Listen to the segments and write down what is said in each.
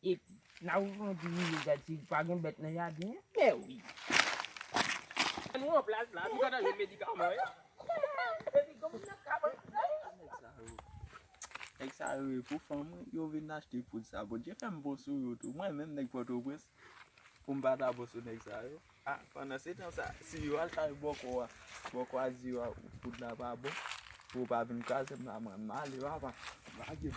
Epi, n a ouvri yon ti rive gad si pa gen bèt nan jaden an. Mèwi! Lè nou an plas la, nou gentan jwenn medikaman yo. Epi, gen moun nan kabann nan. Nèg sa yo! Nèg sa yo e pou fanm wi yo vin achte poud sa. Bondye fè m bon sou yo tou. Mwen menm nèg Pòtoprens, pou m pa ta bon sou nèg sa yo. A pandan se tan sa si yo al kay bòkò a bòkò a di yo a wout la pa bon pou yo pa vin kraze m la mwen m ale papa lage m.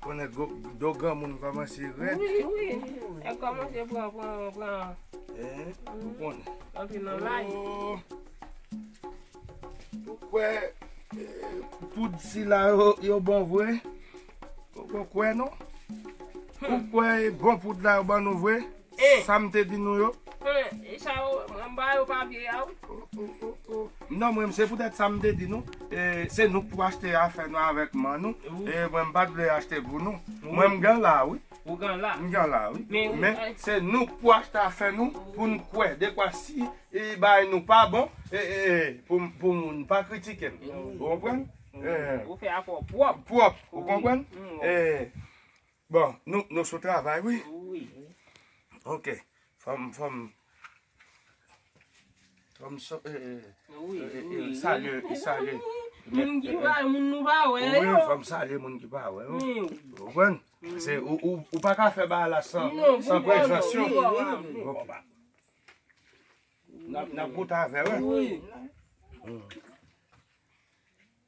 Konnen do granmoun kòmanse rèd. Wi, wi. Yo kòmanse pran, pran, pran. Eeh, ou konnen. Antre nan lay. Ou kwè poud sila yo bon vre? Ou pa kwè non? Ou kwè bon poud la yo ban nou vre? Sa m te di nou yo? E sa yo anba yo pa vye a wi. Non mwen m se poutèt sa m te di nou, se nou k pou achte afè nou avèk man nou, mwen m pa t vle achte pou nou. Mwen m gen la wi. Ou gen la? M gen la wi. Men, se nou k pou achte afè nou pou n kwè dekwa si bagay nou pa bon, pou moun pa kritike n. Ou konprann? Ou fè afè w pwòp. Pwòp, ou konprann? Bon nou nou sou travay wi. Wi. Ok fom fom. Fom so e e. Wi wi. Salye e salye. Moun ki pa moun nou pa we yo. Wi fom salye moun ki pa we yo. Wi. Ou pran? Se ou ou pa ka fe ba la san san prezans yo. Non pou mwen wi. Ok. Nap nap goute ave yo. Wi.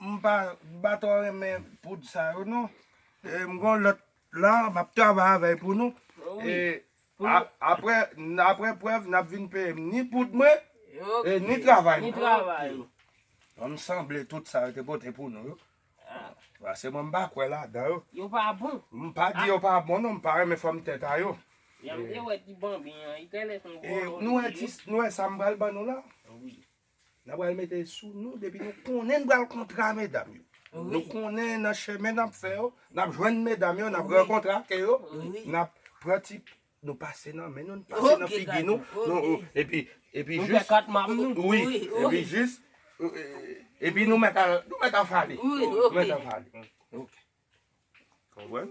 M pa ba tro renmen poud sa yo non. M gon lot la map travay avèl pou nou. Aprè prèv nap vin peye m ni poud mwen e ni travay mwen. Bon m sanble tout sa yo te pote pou nou yo. Pase mwen m pa kwè ladan yo. Yo pa bon. M pa di yo pa bon non m pa renmen fòm tèt a yo. Yam te wè ti banbin an. Nou wè sa m pral ban nou la. Nan pral mete sou nou depi nou konnen n pral kontra medam yo. Nou konnen nan chemen nap fè yo, nap jwenn medam yo, nap rankontre ak yo, nap pran ti nou pase nan men nou, nou pase nan figi nou, epi epi jis wi, epi jis epi nou mèt al, nou mèt al fale. Nou mèt al fale. Ok. Konprann?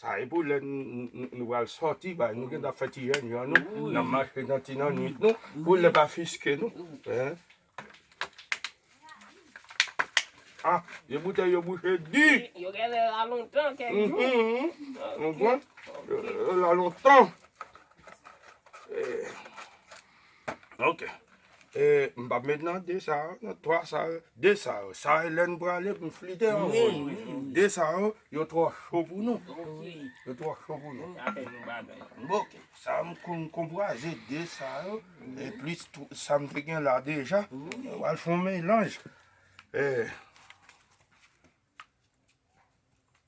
Sa e pou lè nou pral sòti bay, nou gentan fè ti reyinyon nou, nan mache nan ti nannuit nou, pou lè pa fiske nou. Ah, vye boutèy yo bouche di! Yo gen lè la lontan kèk jou. Yo la lontan. Ok E m pap met nan 2 sa yo, nan 3 sa yo. 2 sa yo, sa e lè n prale pou n flite anko. 2 sa yo, yo twò cho pou nou. Yo twò cho pou nou. Ok, sa m konn konpwaze 2 sa yo, e plis sa m te gen la deja. Nou pral fè yon melanj. E.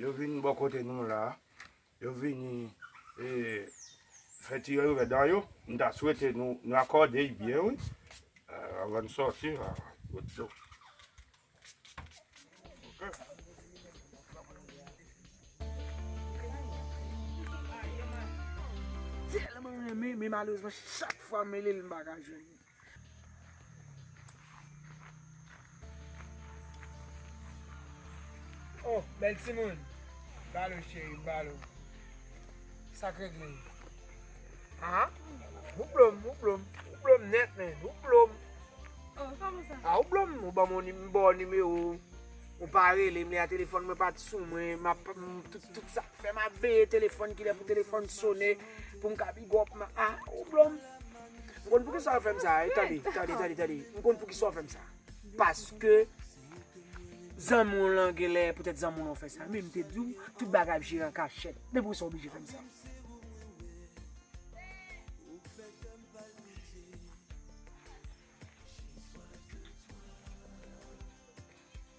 Yo vin bò kote nou la, yo vini fè ti rèvè dan yo, m ta swete nou akòde y byen wi avan n sòti la. Oh bèl timoun, balo cheri, balo, sak regle, aa, ou blom, ou blom, ou blom nèt men, ou blom, a ou blom, ou ban mwen bò nime ou, ou pa rele mwen a telefon mwen pat sou mwen, m ap, tout sa, fè m ap veye telefon kilè pou telefon sone, pou m ka bigòp, a ou blom. M konn pou kisa yo fè m sa. E tande, tande, tande, tande. M konn pou kisa yo fè m sa. Paske, zanmi w lan gen lè, poutèt zanmi w lan fè sa. Men m te di w, tout bagay ap jere an kachèt. Men pou kisa w oblije fè m sa.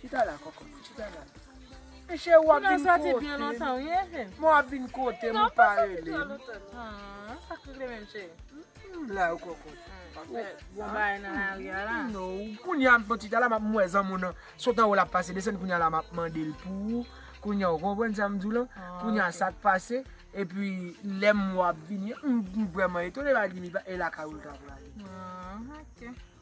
Chita la koko mwen chita la. Men cheri wap vin kotem. Mwen wap vin kotem ou pa relem. Aww sak tou vle menm cheri. M la yo koko. Bon bagay nan lari a la. Kounya bon chita la map mwen zanmi w nan sot anwo lap pase desann kounya la map mandel pou ou. Kounya ou konprann sam diw lan. Kounya sak pase. Epi lem wap vini an m vreman etone pa gimi e lakay ou l ta prale. Aww ok.